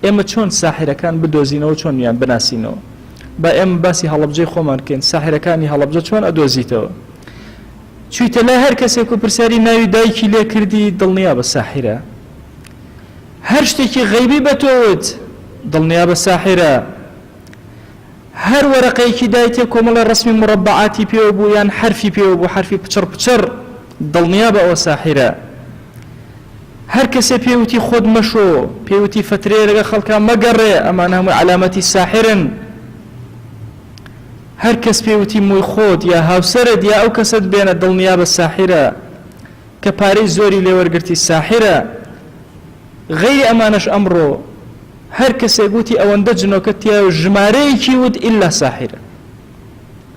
ئێمە چۆن ساحرەکان بدۆزینەوە چۆن یان بناسینەوە با ئێمە باسی هەڵبجەی خۆمان بکەین ساحرەکانی هەڵبجە چۆن ئەدۆزیتەوە چیتە لای هەر کەسێک و پرسیاری ناوی دایکی لێ کردی دڵنیا بە ساحرە هەر شتێکی غەیبی بە تۆوت دڵنیا بە ساحرە هەر وەرەقەیەکی دایتێ کۆمەڵێ ڕەسمی موڕەبەعاتی پێوە بوو یان حەرفی پێوە بوو حەرفی پچڕ پچڕ دڵنیابە ئەوە ساحیرە هەر کەسێ پێی وتی خۆت مەشۆ پێی وتی فەترەیە لەگە خەڵکا مەگەڕێ ئەمانە هەمووی عەلامەتی ساحرن هەر کەس پێی وتی مۆی خۆت یا هاوسەرت یا ئەو کەسەت بێنە دڵنیابە ساحیرە کە پارەی زۆری لێوەرگرتی ساحیرە غەیری ئەمانەش ئەمڕۆ هەر کەسێک وتی ئەوەندە جنۆکە تیایە و ژمارەیەکی وت ئیلا ساحیرە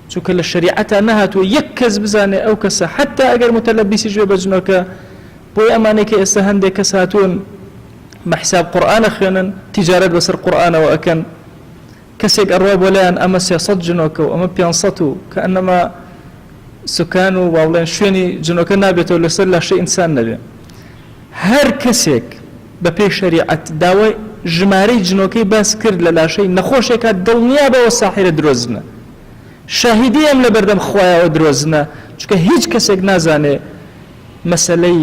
چونکە لە شەریعەتا نەهاتووە یەک کەس بزانێ ئەو کەسە حتا ئەگەر متەلەبیسیش بێ بە جنۆکە بۆیە ئەمانەی کە ئێستا هەندێک کەس هاتوون بە حساب قورئان ئەخوێنن تیجارەت بەسەر قورئانەوە ئەکەن کەسێک ئەڕوا بۆ لایان ئەمە سێ سەد جنۆکە و ئەمە پێنج سەد و کەئەنەما سوکان و وابڵێن شوێنی جنۆکە نابێتەوە لەسەر لاشەی ئینسان نەبێ هەر کەسێک بە پێی شەریعەت داوای ژمارەی جنۆکەی باس کرد لە لاشەی نەخۆشێکا دڵنیا بەوە ساحیرە درۆزنە شاهیدی ئەم لە بەردەم خوایەوە درۆزنە چکە هیچ کەسێک نازانێ مەسەلەی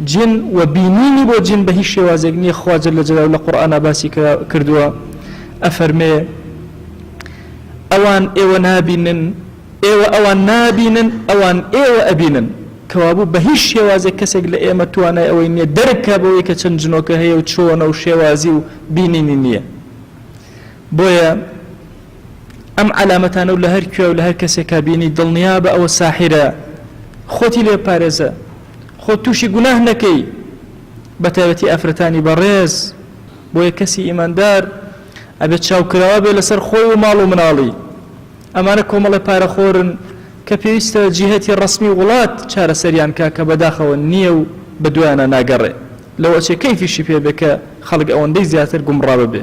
جن و بینینی بۆ جن بە هیچ شێوازێک نیە خوا جل جلال لە قورئانا باسی کردوە ئەفەرمێ ئەوان ئێوە نابینن ئێوە ئەوان نابینن ئەوان ئێوە ئەبینن کەوابوو بە هیچ شێوازێک کەسێک لە ئێمە توانای ئەوەی نییە دەرکە بەوەی کە چەند جنۆکە هەیە و چۆنە و شێوازی و بینینی نییە بۆیە ئەم عەلامەتانە و لە هەر کوێ و لە هەر کەسێکا بینی دڵنیابە ئەوە ساحیرە خۆتی لێ پارێزە خۆ تووشی گوناه نەکەی بە تایبەتی ئافرەتانی بەڕێز بۆیە کەسی ئیماندار ئەبێت چاوکراوە بێ لەسەر خۆی و ماڵ و مناڵی ئەمانە کۆمەڵی پارەخۆرن کە پێویستە جیهەتی ڕسمی وڵات چارەسەریان کا کە بەداخەوە نییە و بە دوایانە ناگەڕێ لەوەچێ کەیفیشی پێبێ کە خەڵک ئەوەندەی زیاتر گومڕاوە بێ